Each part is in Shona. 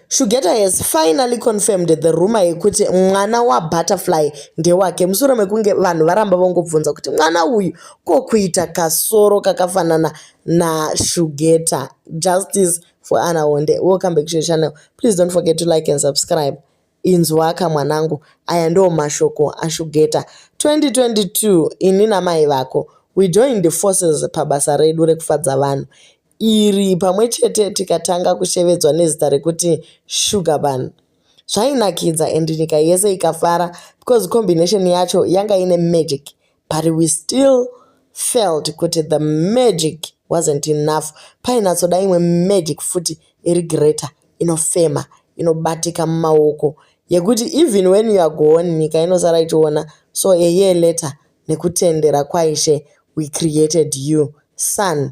Shugeta has finally confirmed the rumor yekuti mwana waButterfly ndewake mushure mekunge vanhu varamba vongobvunza kuti mwana uyu ko kuita kasoro kakafanana naShugeta. Justice for Anna Honde. Welcome back to your channel. Please don't forget to like and subscribe. Inzwaka mwanangu, aya ndiwo mashoko aShugeta. 2022 ini namai vako we joined forces pabasa redu rekufadza vanhu iri pamwe chete tikatanga kushevedzwa nezita rekuti sugarban zvainakidza and nyika yese ikafara because combination yacho yanga ine magic but we still felt kuti the magic wasn't enough painatsoda imwe magic futi iri greater inofema inobatika mumaoko yekuti even when you are gone nyika inosara ichiona so a year later nekutendera kwaishe we created you son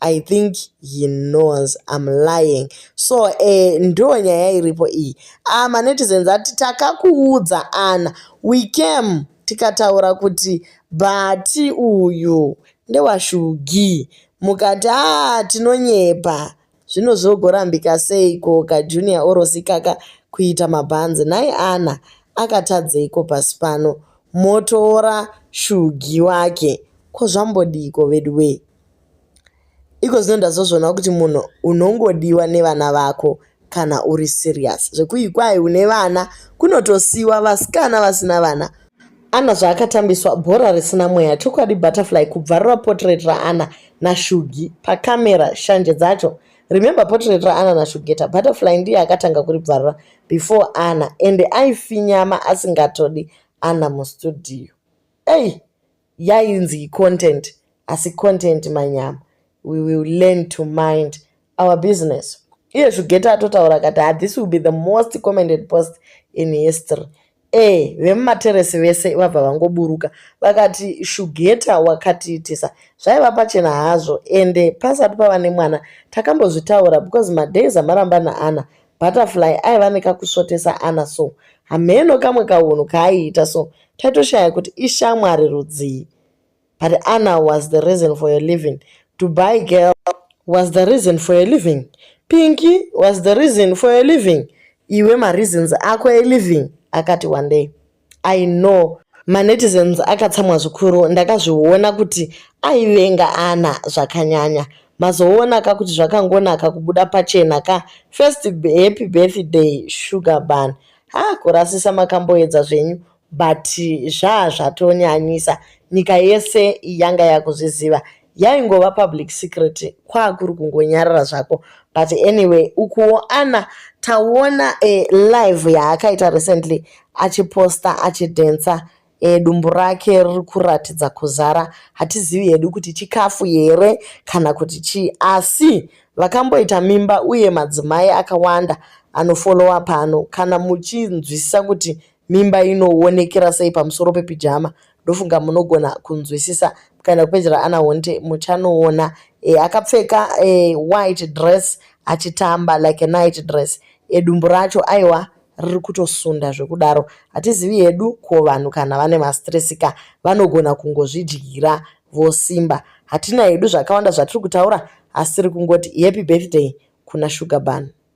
I think he knows I'm lying. So eh, ndo nyaya iripo iyi. Ah, manetizens ati takakuudza Anna. We came tikataura kuti bhati uyu ndewashugi. Mukati ah tinonyepa. Zvino zvogorambika sei ko ka Junior orosikaka kuita mabhanzi. Nhai Anna akatadzeiko pasi pano? Motora shugi wake. Ko zvambodiko veduwee? Iko zvino ndazozvionawo kuti munhu unongodiwa nevana vako kana uri serious zvekuyi kwayi une vana kunotosiwa vasikana vasina vana ana zvaakatambiswa bhora risina mweya chokwadi butterfly kubvarura portrait raana nashugi pacamera shanje dzacho remember portrait raana nashugeta butterfly ndiye akatanga kuribvarura before ana ende aifinyama asingatodi ana mustudio ei hey! yainzi content asi content manyama we will learn to mind our business iye zvigeta atotaura kati ah, this will be the most commented post in history e vemumateresi vese vabva vangoburuka vakati shugeta wakatiitisa zvaiva pachena hazvo ende pasati pava nemwana takambozvitaura because madays amaramba naana Butterfly aiva nekakusvotesa Anna so hameno kamwe kahunhu kaaiita so taitoshaya kuti ishamwari rudzii but Anna was the reason for your living Dubai girl was the reason for your living Pinky was the reason for your living iwe mareasons ako eliving akati wandei I know manetizens akatsamwa zvikuru ndakazviona kuti aivenga ana zvakanyanya mazoona ka kuti zvakangonaka kubuda pachena ka first happy birthday sugar ban ha kurasisa makamboedza zvenyu but zvaa zvatonyanyisa nyika yese yanga yakuzviziva yaingova public secret kwakuri kungonyarara zvako but anyway ukuwo ana taona e, live yaakaita recently achiposta achidhensa e, dumbu rake riri kuratidza kuzara hatizivi hedu kuti chikafu here kana kuti chii asi vakamboita mimba uye madzimai akawanda anofolowa pano kana muchinzwisisa kuti Mimba inowonekera sei pamusoro pepijama? Ndofunga munogona kunzwisisa mukaenda kupeji raAna Honte muchanoona e, akapfeka e, white dress achitamba like a night dress e, dumbu racho aiwa riri kutosunda zvekudaro hatizivi hedu ko vanhu kana vane mastress ka vanogona kungozvidyira vosimba hatina hedu zvakawanda zvatiri kutaura asi tiri kungoti happy birthday kuna sugar bun